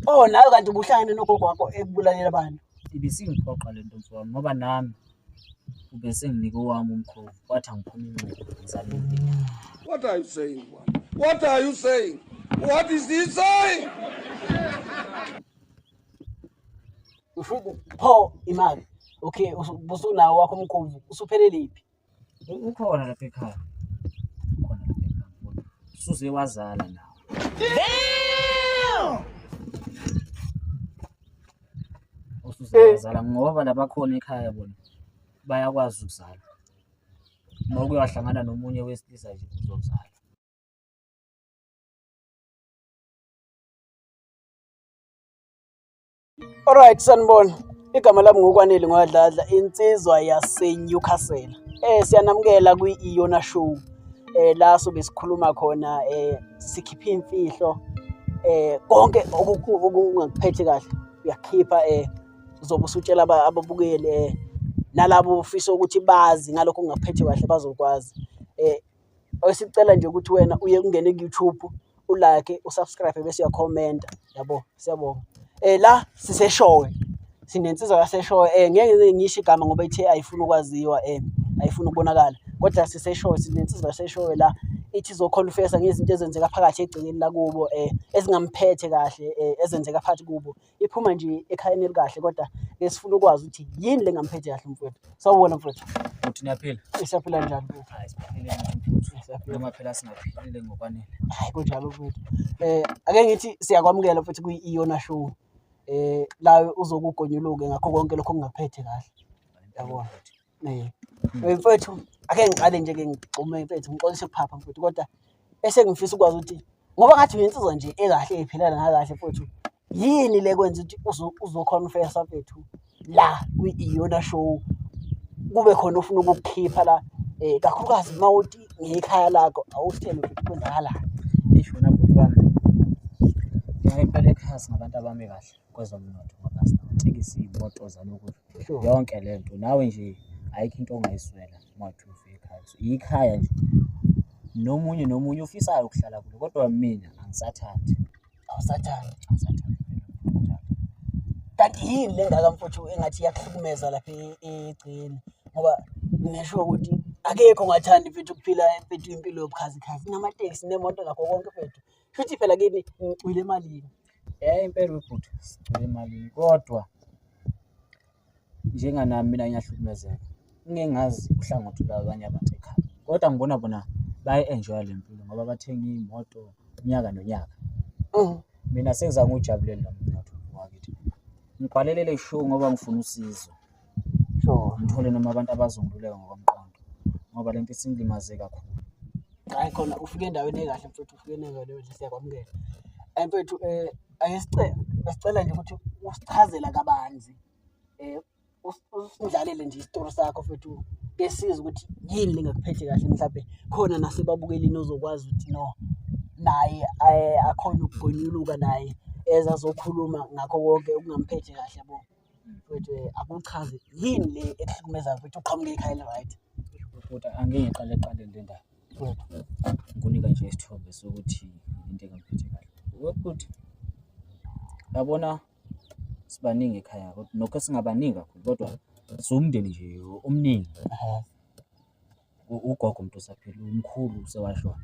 Oh nawe kanti ubuhlangene nogogo wakho ekubulalela abantu. Ibisingiphoqa le nto mfowami ngoba nami ube senginike owami umkhovu wathi angiphuma inxeba ngizale impilo. What are you saying? What are you saying? What is he saying? Usho pho imali. Okay, usunawo wakho umkhovu usuphelele iphi? U- ukhona lapha ekhaya ukhona lapha ekhaya mfowethu. suze wazala nawe usuze wazala ngoba labakhona ekhaya bona bayakwazi ukuzala uma kuyohlangana nomunye wesilisa nje uzozala Alright sanibona. Igama lami ngokwanele ngwadladla insizwa yaseNewcastle. Eh siyanamukela kwi-Iona Show. Eh la sobe sikhuluma khona eh sikhipha imfihlo eh konke okungakuphethe kahle uyakhipha eh uzobe usutshela ababukeli eh nalabo ufisa ukuthi bazi ngalokho ongaphethe kahle bazokwazi eh Esicela nje ukuthi wena uye kungene ku-YouTube ulike usubscribe bese uyakhomenta yabo siyabonga eh la siseshowe sinensizwa yaseshowe eh ngeke ngisho igama ngoba ithe ayifuni ukwaziwa eh ayifuni ukubonakala kodwa siseshowe sinensizwa yaseshowe la ithi izokhonfesa ngezinto ezenzeka phakathi egcekeni lakubo eh ezingamphethe kahle eh ezenzeka phakathi kubo iphuma nje ekhayeni elikahle kodwa ke sifuna ukwazi ukuthi yini le ngamphethe kahle mfowethu sawubona mfowethu ukuthi niyaphila siyaphila njani mfowethu hayi siphilile mfowethu noma phela singaphilile ngokwanele hayi kunjalo mfowethu eh ake ngithi siyakwamukela futhi kuyi-iona show eh la uzokugonyuluke ngakho konke lokho kungaphethe kahle yabona Eh, eh, mfethu ake ngiqale nje ke ngigxume mfethu ngixolise ukuphapha mfethu kodwa bese ngifisa ukwazi ukuthi ngoba ngathi uyinsizwa nje ekahle ephilana nakahle mfethu yini le kwenza ukuthi uzo- uzoconfessa mfethu la kwi-iyona show kube khona ofuna ukukukhipha la um kakhulukazi uma uthi ngekhaya lakho awusithele ukuthi kwenzakalani Isho wena bhuti wami. Ngiyayipela ekhasi ngabantu abami kahle. kwezomnotho ngoba sinatekisi iy'moto zalokhu yonke le nto nawe nje ayikho into ongayiswela uma uthi ufika ekhaya so yikhaya nje nomunye nomunye ofisayo ukuhlala kulo kodwa mina angisathandi awusathandi angisathandi kanti yini le ngaka mfuthu engathi iyakuhlukumeza lapha e- egcini ngoba ngisho ukuthi akekho ongathandi mfethu ukuphila mfethu impilo yobukhazikhazi namateksi nemoto nakho konke mfethu Futhi phela kini ngicwile emalini. Eh impela ubhuti sicwile emalini kodwa njenganami mina ngiyahlukumezeka. Ngeke ngazi uhlangothi lwabanye abantu ekhaya. Kodwa ngibona bona bayi-enjoya le mpilo ngoba bathenga iy'moto unyaka nonyaka. Oh. Mina sengizange uwujabulele lo mnotho wakithi. Ngibhalelele show ngoba ngifuna usizo. Sure. Ngithole noma abantu abazongiluleka ngokomqondo ngoba le nto isingilimaze kakhulu. Hayi khona ufike endaweni ekahle mfethu ufike endaweni enhle siyakwamukela. Eh mfethu eh ake sicela besicela nje ukuthi usichazela kabanzi eh us- usindlalele nje isitori sakho mfethu kesiza ukuthi yini lingakuphethe kahle mhlawumbe khona nasebabukelini ozokwazi ukuthi no naye eh, akhona ukugonyuluka naye ezazokhuluma ngakho konke okungamphethe kahle yabo. mfethu eh, akuchaze yini le ekuhlukumezayo mfethu uqhamuke ikhaya eli-right Kodwa angeke ngiqale eqaleni le ndaba. Ngikunika nje isithombe sokuthi into engamphethe kahle. Ukuthi yabona sibaningi ekhaya kodwa nokho singabaningi kakhulu kodwa siwumndeni nje omningi. U- ugogo umuntu osaphila umkhulu usewashona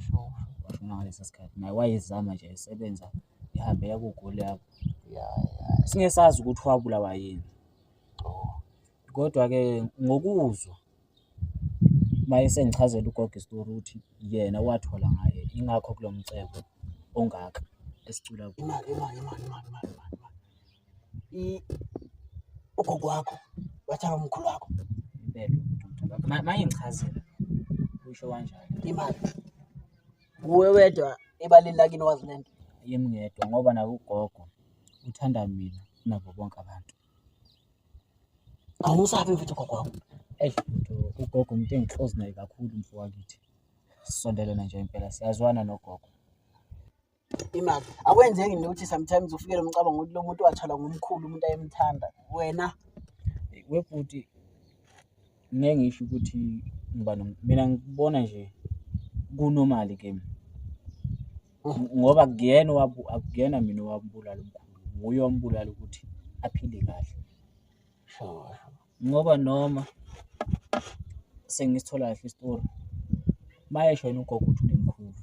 Sure. washona ngalesa sikhathi naye wayezama nje esebenza ihambela kugoli yakho Ya, ya. singesazi ukuthi wabulawa yini Oh. kodwa-ke ngokuzwa uma esengichazela ugogo isitori ukuthi yena wathola ngaye ingakho kulo mcebo ongaka esicula kuwo Imali, imali, imali, imali, imali, imali. i- ugogo wakho wathaka umkhulu wakho impela Ma- mayengichazela usho kanjalo imali nguwe wedwa ebaleni lakini wazi le nto yimi ngedwa ngoba naye ugogo uthanda mina kunabo bonke abantu awumusabi mfethu ugogo wakho eyi mfethu, ugogo umuntu engihlozi naye kakhulu mfo wakithi sisondelene nje impela siyazwana nogogo imali akwenzeki nje ukuthi sometimes ufikele umcabango ukuthi lo muntu wathalwa ngumkhulu umuntu ayemthanda wena webhuti ngeke ngisho ukuthi ngiba mina ngibona nje kunomali kimi mm. ngoba kuyena akuyena mina owambulala umkhulu nguye ombulala ukuthi aphile kahle sure ngoba noma sengisithola kahle isitori mayesho yena ugogo ukuthi unemkhulu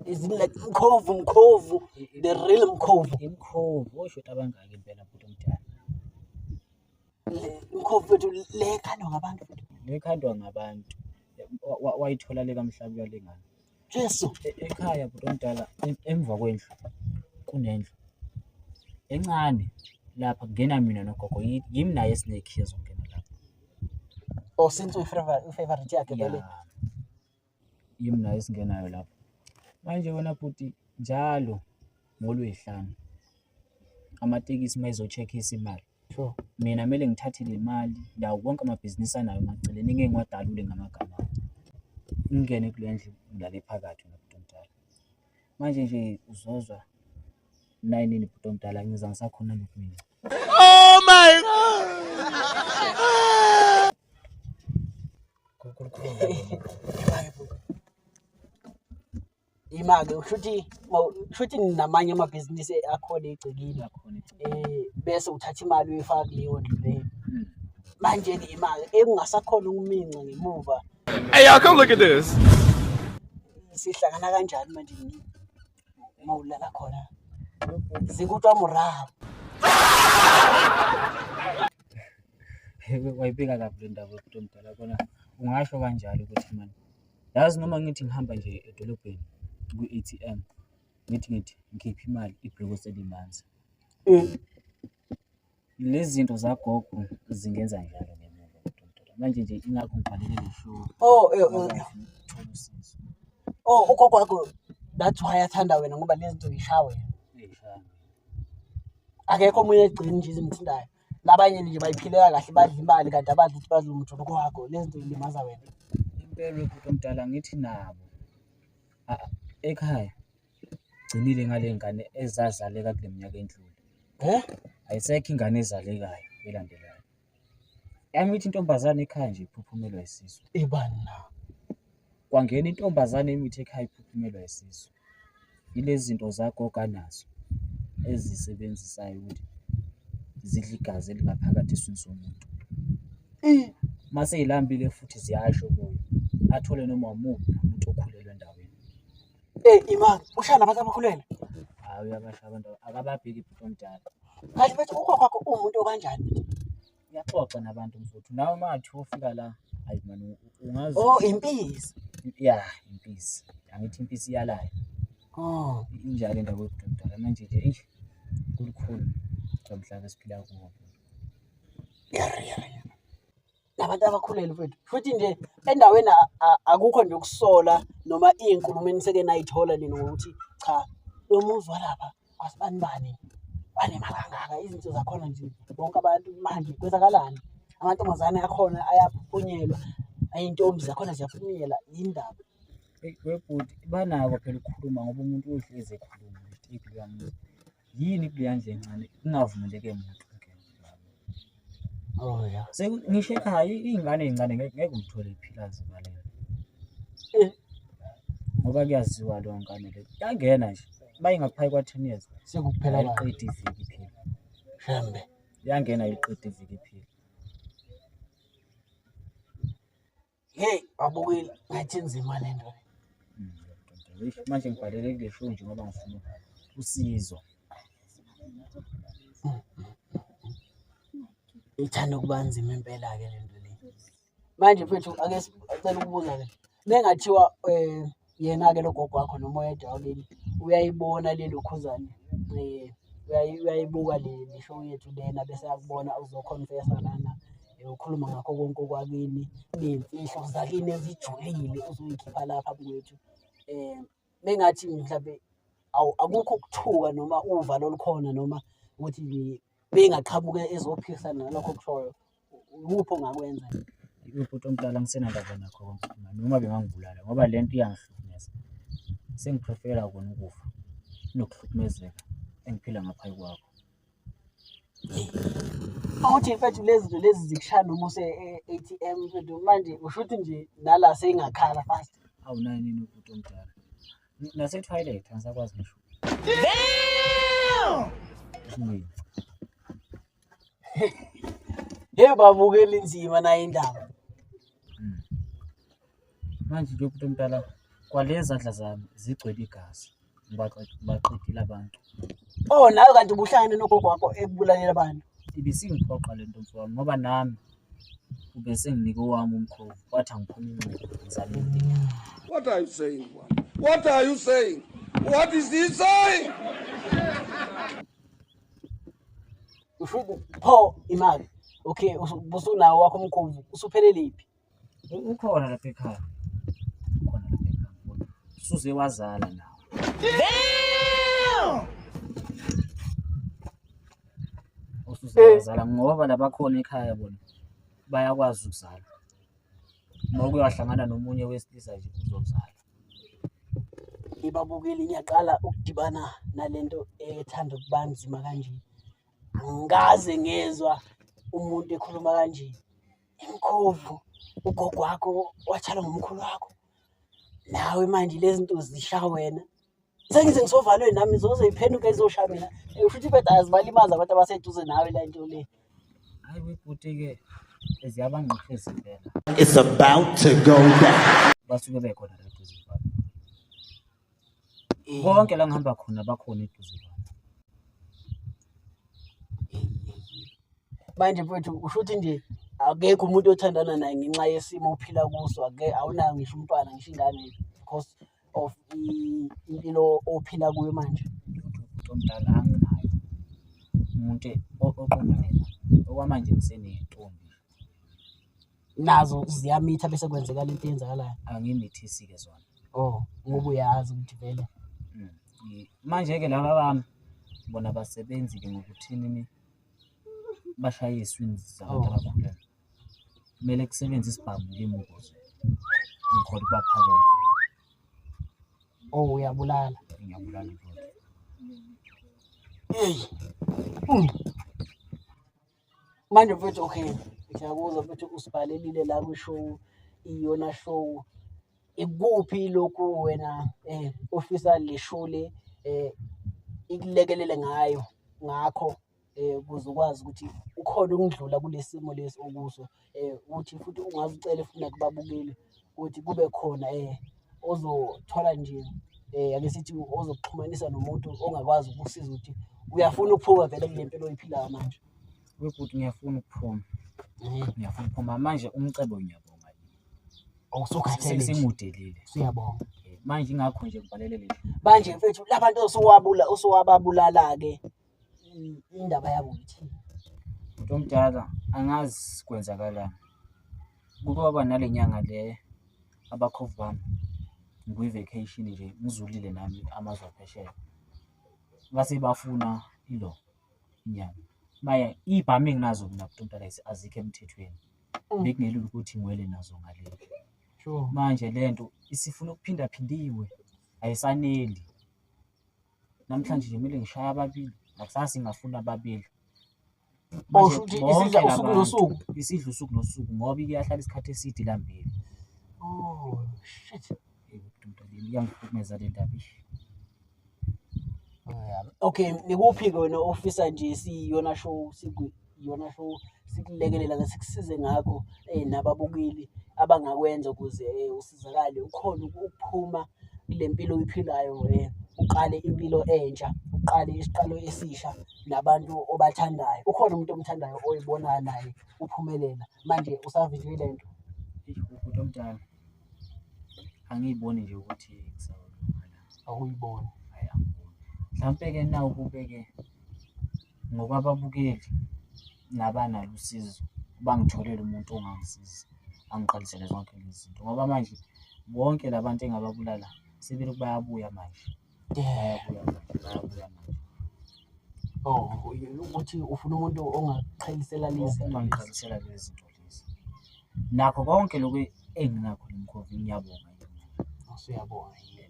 izini like mkhovu mkhovu the real mkhovu imkhovu oshuthi abangaki impela bhuti omdala mkhovu wethu le khandwa ngabantu le khandwa ngabantu wayithola le kamhlabi yalengane Jesu. E-, ekhaya bhuti omdala emva kwendlu kunendlu encane lapha kungena mina nogogo yimi naye esinekhiya zokungena lapha. Oh since uyi-favorite yakhe vele. Yimi naye esingenayo lapha. Manje wena bhuti njalo ngoLwey'hlanu amatekisi uma ezo-check-isa imali. Sure. Mina kumele ngithathe le mali ndawo wonke amabhizinisi anayo emaceleni ngeke ngiwadalule ngamagama ami. Ngingene kule ndlu ngilale phakathi wena bhuti omdala. Manje nje uzozwa nayinini bhuti omdala ngiza ngisakhona lokhu mina. Oh my God! Kukhulu kukhulu. imake ushuthi ushuthi namanye amabhizinisi akhona egcekile eh bese uthatha imali uyifaka kuleyo ndlu leyo hmm. manje ke imali ekungasakhona ukuminca ngemuva hey y'all come look at this sihlangana kanjani manje uma ulala khona zikutwa murabo wayibika kabi le ndaba yokuthi omdala kona ungasho kanjalo ukuthi mani Yazi noma ngithi ngihamba nje edolobheni kwi-A_T_M ngithi ngithi ngikhiphe imali ibhloki selimanzi. Lezi zinto zagogo zingenza njalo ngemuva kodwa manje nje ingakho ngiqalele le show Oh, eh, ngoba eh, ngifuna ukuthola usizo. oh ugogo wakho that's why athanda wena ngoba lezi zinto zishaya wena. Eyi, shame. Akekho omunye egcini nje ezimthintayo. labanye nje bayiphilela kahle badla imali kanti abadla ukuthi badla umjolo kwakho le zinto ilimaza wena impela ubhuti omdala ngithi nabo a- ekhaya gcinile ngale ngane ezazaleka kule minyaka endlule Eh? ayisekho ingane ezalekayo elandelayo yami ithi intombazane ekhaya nje iphuphumelwa isisu ibani na kwangena intombazane imithi ekhaya iphuphumelwa isisu Ilezi zinto zagogo anazo ezisebenzisayo ukuthi zidle igazi elingaphakathi eswini somuntu. Uma seyilambile futhi ziyasho kuyo athole noma umuphi umuntu okhulelwe endaweni. Eh imali ushaya nabantu abakhulele. Hayi uyabasha abantu akababheki bhuti omdala. Kanti bethi ugogo wakho uwumuntu okanjani? uyaxoxa nabantu mfuthu nawe uma ngathi ufika la ayi mani ungazi oh impisi ya impisi angithi impisi iyalayo oh injalo indaba yokududala manje nje eish kulukhulu lomhlaba esiphila kuwo yari yari nabantu abakhulele mfethu futhi nje endaweni akukho nje ukusola noma iy'nkulumo eniseke nayithola nini ngokuthi cha lo muzi walapha asibani bani banemali kangaka izinto zakhona nje bonke abantu manje kwenzakalani amantombazane akhona ayaphunyelwa ayintombi zakhona ziyaphunyela yindaba webhuti banako phela ukukhuluma ngoba umuntu uhlezi ekhuluma yini kuleya ndlela encane kungavumeleke muntu Oh ya. Seku ngisho ekhaya i- iy'ngane ey'ncane ngeke ngeke uyithole iphila zivalele. Eh. Ngoba kuyaziwa leyo ngane leyo. Yangena nje. Bayingaphayi kwa 10 years. Sekuphela abantu. Ayiqedi iviki iphila. Shembe. Yangena ayiqedi iviki iphila. Hey, babukile ngathi nzima le nto. Manje ngibhalele kule show nje ngoba ngifuna usizo. Ithanda ukuba nzima impela ke le nto le. Manje mfethu ake sicela ukubuza ke. Nengathiwa eh yena-ke lo gogo wakho noma oyedwa wakini uyayibona le lokhuzane um eh, uyayibuka le show yethu lena bese yakubona uzokhonfesa lana eh, ukhuluma ngakho konke okwakini ney'mfihlo zakini ezijulile uzoyikhipha lapha kwethu um eh, mengathi mhlawumbe akukho ukuthuka noma uvalo olukhona noma ukuthi bengaqhamuke ezophikisana nalokho okushoyo ukuphi ongakwenza ubhuti omdala ngisenandaba nakho konke noma bengangibulala ngoba le nto iyangihlukumeza sengiprefera kona ukufa kunokuhlukumezeka engiphila ngaphayi kwakho awuthi mfethu lezi zinto lezi zikushaya noma use-atm mfethu manje usho ukuthi nje nala seyingakhala fast awunayo nini ubhuti omdala nase toilet angisakwazi ngisho damn hey babukela inzima nayo indaba hmm. manje nje umuntu omdala kwalezi adla zami zigcwele igazi baqedile abantu oh nawe kanti ubuhlangene nogogo wakho ekubulalela abantu ibisingiphoqa le nto mfowami ngoba nami Ubese nginike owami umkhovu kwathi angiphuma inxeba ngizale impilo. What are you saying? What are you saying? What is he saying? Ufuku pho imali. Okay, usunawo wakho umkhovu usupheleliphi? Ukhona lapha ekhaya. Ukhona lapha ekhaya. Suze wazala nawe. Damn! usuze Eh. wazala ngoba labakhona ekhaya bona bayakwazi ukuzala uma uke wahlangana nomunye wesilisa nje uzozala ngibabukile ngiyaqala ukudibana nalento ethanda ukuba nzima kanje angikaze ngezwa umuntu ekhuluma kanje imkhovu ugogo wakho watshala ngomkhulu wakho nawe manje lezi nto zisha wena sengize ngisovalweni nami zoze iphenduke izosha mina Eh, usho ukuthi ibeda azibalimazi abantu abaseduze nawe la nto le hayi webhuti-ke ziyabangqisha izindlela It's about to go down. basuke bekhona la eduze kwami Eh, konke la ngihamba khona bakhona eduze kwami manje mfowethu usho ukuthi nje akekho umuntu othandana naye ngenxa yesimo ophila kuso ake awunayo ngisho umntwana ngisho ingane because of i- impilo ophila kuyo manje umuntu omdala anginayo umuntu o- oqondana naye okwamanje ngisenentombi nazo ziyamitha bese kwenzekala into eyenzakalayo angimithisi-ke zona oh ngoba uyazi ukuthi vele Mm. I- manje-ke laba bami bona basebenzi-ke ngokuthini bashayiswe zabantu Oh. abakhulelwe kumele kusebenze isibhamu kimi ukuze ngikhona ukubaphakela oh uyabulala ngiyabulala indoda eyi hmm. manje mfethu okay ngiyakuzwa mfethu usibhalelile la kwishow iyona show ikuphi lokhu wena um ofisa le show le um ikulekelele ngayo ngakho eh ukuze ukwazi ukuthi ukhona ukundlula kulesimo lesi okuso eh ukuthi futhi ungaze ucele futhi nakubabukeli ukuthi kube khona eh ozothola nje eh ake sithi ozokuxhumanisa nomuntu ongakwazi ukusiza ukuthi uyafuna ukuphuma vele kule mpilo oyiphilayo manje wekuthi ngiyafuna ukuphuma eh ngiyafuna ukuphuma manje umcebo ngiyabonga awusukhathele sengimudelile siyabonga eh, manje ingakho nje ngibhalele leli manje mfethu labantu osuwabula osuwababulala ke indaba yabo ukuthi umuntu omdala angazi kwenzakalani kuke waba nale nyanga le abakhovu bami ngikwi-vacation nje ngizulile nami amazwe aphesheya base bafuna ilo inyanga maya iy'bhamu enginazo mina umuntu omdala ezi- azikho emthethweni Mm. bekungelula ukuthi ngiwele nazo ngaleli sure manje le nto isifuna ukuphindaphindiwe ayisaneli namhlanje nje kumele ngishaye ababili nakusasa ingafuna ababili Oh, Manje shuthi bonke isidla usuku labantu, nosuku. isidla usuku nosuku ngoba iyahlala isikhathi eside ilambile Oh, shit. Eyi, ndoda le, iyangihlukumeza le ndaba ish. Okay, nikuphi ke wena ofisa nje siyona show siku iyona show sikulekelela ke sikusize ngakho eh nababukeli abangakwenza ukuze eh, usizakale ukhona ukuphuma kule mpilo oyiphilayo eh uqale impilo entsha uqale isiqalo esisha nabantu obathandayo ukhona umuntu omthandayo oyibonayo naye uphumelela manje usavinjwe le nto umuntu omdala angiyiboni nje ukuthi awuyiboni mhlampe-ke na ukube-ke Ngokwababukeli nabanalo usizo bangitholele umuntu ongangisiza angiqalisele zonke lezi zinto ngoba manje bonke la bantu engababulala sebelokhu bayabuya manje bayabuya manje bayabuya manje Oh, ukuthi ufuna umuntu ongaqhelisela lezi zinto lezi. ongiqalisela lezi zinto lezi nakho konke lokhu enginakho nemkhovu ngiyabonga yena Usuyabona yini?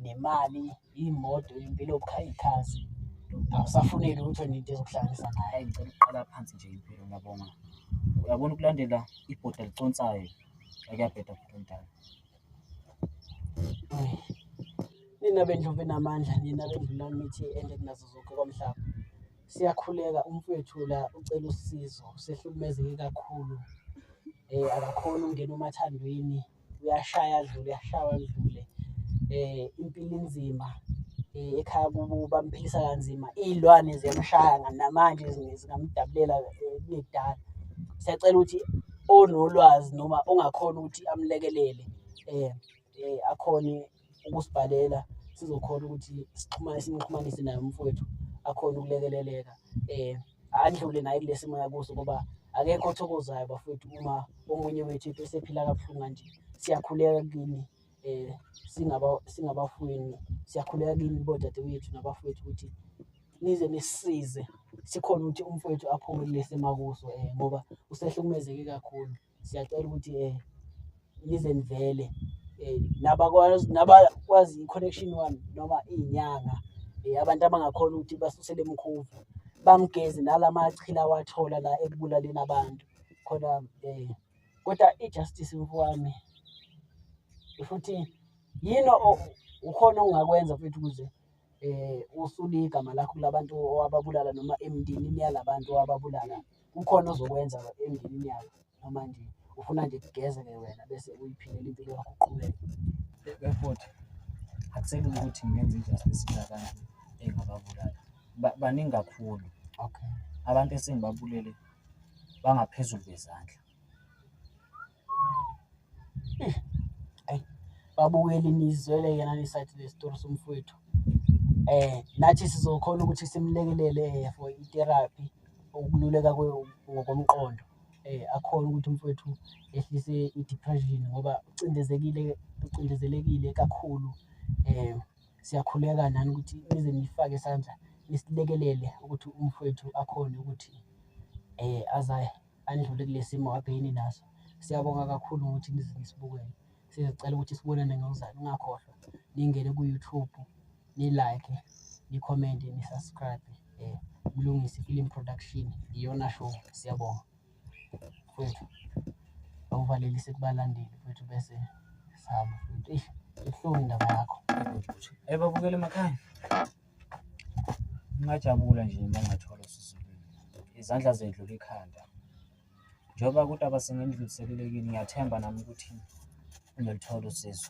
nemali imoto impilo yokukhaya ikhazi awusafuneki ukuthi wena into ezokuhlanganisa naye hayi ngicela ukuqala phansi nje impilo ngiyabonga uyabona ukulandela ibhoda liconsayo akuyabheda futhi omdala nina bendlu benamandla nina bendlu namithi ende kunazo zonke komhlaba siyakhuleka umfowethu la ucela usizo sehlukumezeke kakhulu um akakhoni ukungena umathandweni uyashaya adlule uyashawa adlule eh impilo inzima eh ekhaya kubo bamphilisa kanzima izilwane ziyamshaya nga- namanje zinge- zingamdabulela eh, kudala siyacela ukuthi onolwazi noma ongakhona ukuthi amlekelele eh eh akhone ukusibhalela sizokhona ukuthi sixhumane simxhumanise naye umfowethu akhona ukulekeleleka eh andlule naye kulesi moya kuso ngoba akekho othokozayo bafowethu uma omunye wethu esephila kabuhlungu kanje siyakhuleka kini eh singaba singabafweni siyakhuleka kini bodadewethu nabafowethu ukuthi nize nisize sikhona ukuthi umfowethu aphume kulesi makuso eh ngoba usehlukumezeke kakhulu siyacela ukuthi um nize nivele um nabakwazi i-connection one noma iy'nyanga um abantu abangakhona ukuthi basusele emkhuvu bamgeze nala machila awathola la ekubulaleni abantu khona um kodwa i-justice mfowami futhi yini ukhona ongakwenza futhi ukuze um usule igama lakho kula bantu owababulala noma emndenini yala bantu owababulala kukhona ozokwenza emndenini yakho noma nje ufuna nje kugezeke wena bese uyiphilela impilo yakho uqhubeke befuthi akuselula ukuthi ngenze i-justice ngakani engababulali Ba- baningi kakhulu okay abantu esengibabulele bangaphezulu bezandla babukeli nizwele yena nisathi lesitori somfowethu eh nathi sizokhona ukuthi simlekelele eh, for itherapy ukululeka ngokomqondo eh akhona ukuthi umfowethu ehlise i-depression ngoba ucindezekile ucindezelekile kakhulu eh siyakhuleka nani ukuthi nize nifake isandla nisilekelele ukuthi umfowethu akhone ukuthi eh azaye andlule kulesimo abhekene naso. Siyabonga kakhulu ngokuthi nize nisibukele. Sizocela ukuthi sibonane ngokuzayo ningakhohlwa ningene ku-YouTube ni-like, ni-comment, ni-subscribe eh Mlungisi Film Production iyona show. Siyabonga mfwethu awuvalelise kubalandeli mfwethu bese sihamba mfwethu. Eish ibuhlungu indaba yakho. Hey babukeli emakhaya. ngingajabula nje uma ngathola usizukulu izandla zedlula ikhanda njengoba kuthi abasengindluliselelekile ngiyathemba nami ukuthi ngilithola usizo